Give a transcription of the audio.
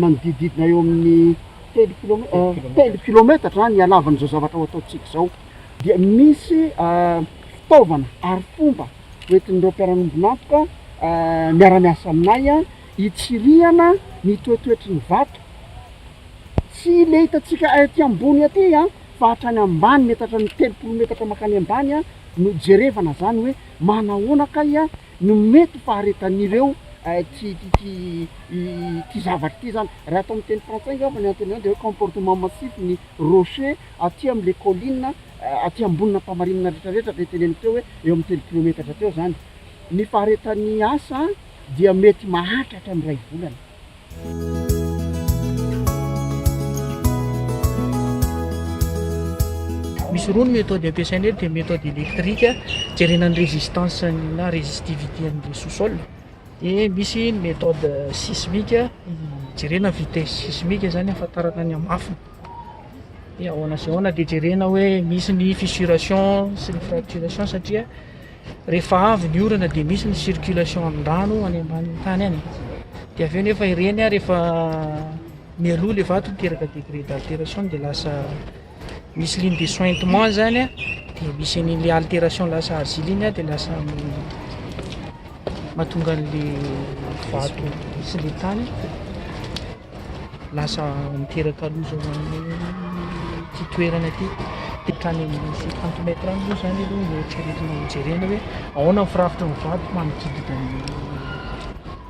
manodidididina eo amin'ny telo kilomètre telo kilometatra ny halavan'izao zavatra ho ataontsika izao dia misy fitaovana ary fomba hoentin'ireo mpiara-miombon'antoka miara-miasa aminay hitsirihana ny toetoetry ny vato tsy le hitantsika aty ambony aty an fa hatrany ambany mety hatrany telopolo metatra mankany ambany an no jerevana zany hoe manahoana kay an no mety ho faharetan'ireo ty ty ity zavatra ity izany. Raha atao amin'ny teny frantsay angamba ny antony izany dia hoe comportement massif ny rochers aty amin'ilay colline aty ambony nampamarinina retraretra dia teneniko teo hoe eo amin'ny telo kilometatra teo izany. Ny faharetan'ny asa dia mety mahatratra ny iray volana. Misy roa ny méthode ampiasaina eto dia méthode électrique jerena ny résistance na résistivité an'ilay sous-sol. Dia misy ny méthode sismique, hijerena ny vitesse sismique izany hahafantarana ny hamafiny. Dia ahoana sy ahoana dia jerena hoe misy ny fissuration sy ny fracturation satria rehefa avy ny orana dia misy ny circulation ny rano any ambanin'ny tany any. Dia avy eo nefa ireny rehefa mialoha ilay vato miteraka degré d'altération dia lasa misy ligne de sointement zany dia misy an'ilay alteration lasa argile iny dia lasa mahatonga an'ilay vato sy ilay tany lasa miteraka loza ho an'ny ity toerana ity dia hatrany amin'ny cinquante mètre any moa zany aloha no eritreretina ho jerena hoe ahoana ny firafitry ny vato manodidina ny